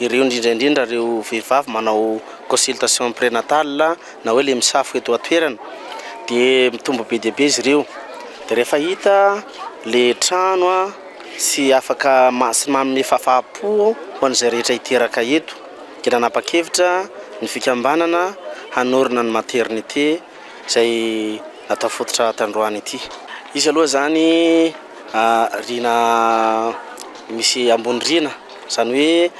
ireo indrindra indrindra ireo vehivavy manao consultation prénatale na hoe le misafo eto an-toerana dia mitombo be dia be izy ireo dia rehefa hita le trano an sy afaka maha sy manome fafapo ho an'izay rehetra hiteraka eto dia nanapa-kevitra ny fikambanana hanorina ny maternité izay natao fototra tandroany ity. Izy aloha izany riana misy ambony riana, izany hoe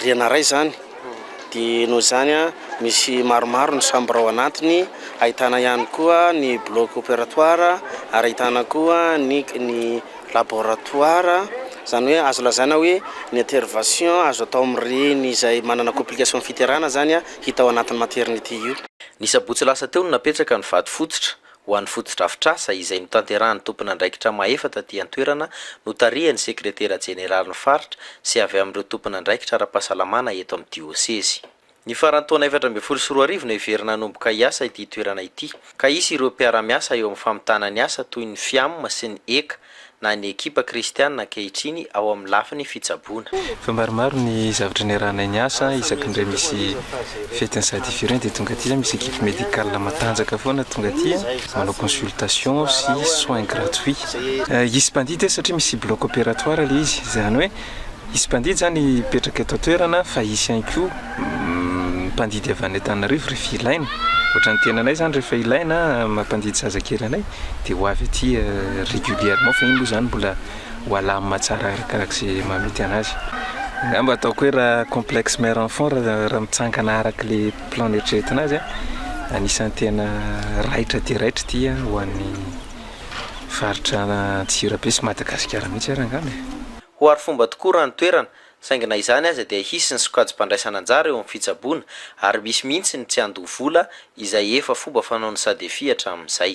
riana iray izany, dia noho izany misy maromaro ny chambre ao anatiny, ahitana ihany koa ny bloc opératoire ary ahitana koa ny ny laboratoire, izany hoe azo lazaina hoe ny intervention azo atao amin'ireny izay manana complication fiterana izany. hita ao anatin'ny materinity io. Ny sabotsy lasa teo no napetraka ny vato fototra ho an'ny fotodrafitrasa izay notanterahan'ny tompon'andraikitra mahefa taty an-toerana notarihan'ny sekretera jeneralin'ny faritra sy avy amin'ireo tompon'andraikitra ara-pahasalamana eto amin'ny diosezy. Ny faran'ny taona efatra ambin'ny folo sy roa arivo no heverina hanomboka hiasa ity toerana ity ka hisy ireo mpiara-miasa eo amin'ny famitana ny asa toy ny Fiam sy ny Eca na ny ekipa kristiana ankehitriny ao amin'ny lafiny fitsaboana. Efa maromaro ny zavatra niarahanay niasa, isaky ny re misy fetin'ny sady firy iny dia tonga aty zay misy equipe médicale matanjaka foana tonga aty a, manao consultation sy soins gratuits. Hisy mpandidy satria misy bloc opératoire ilay izy, izany hoe Hisy mpandidy izany hipetraka eto an-toerana fa hisy ihany koa mpandidy avy any Antananarivo rehefa ilaina. Ohatran'ny tenanay izany rehefa ilaina mampandidy zazakely anay dia ho avy aty régulièrement fa iny moa izany mbola ho alamina tsara arakaraka izay mahamety anazy. Angamba ataoko hoe raha complexe mère enfant raha mitsangana araka ilay plan neritreretina azy anisan'ny tena raitra dia raitra ity ho an'ny faritra Antsirabe sy Madagasikara mihitsy ary angamba e! Ho arifomba tokoa raha ny toerana, saingy na izany aza dia hisy ny sokajim-pandraisana anjara eo amin'ny fitsaboana ary misy mihitsy ny tsy handoa vola izay efa fomba fanaon'ny Sadefi hatramin'izay.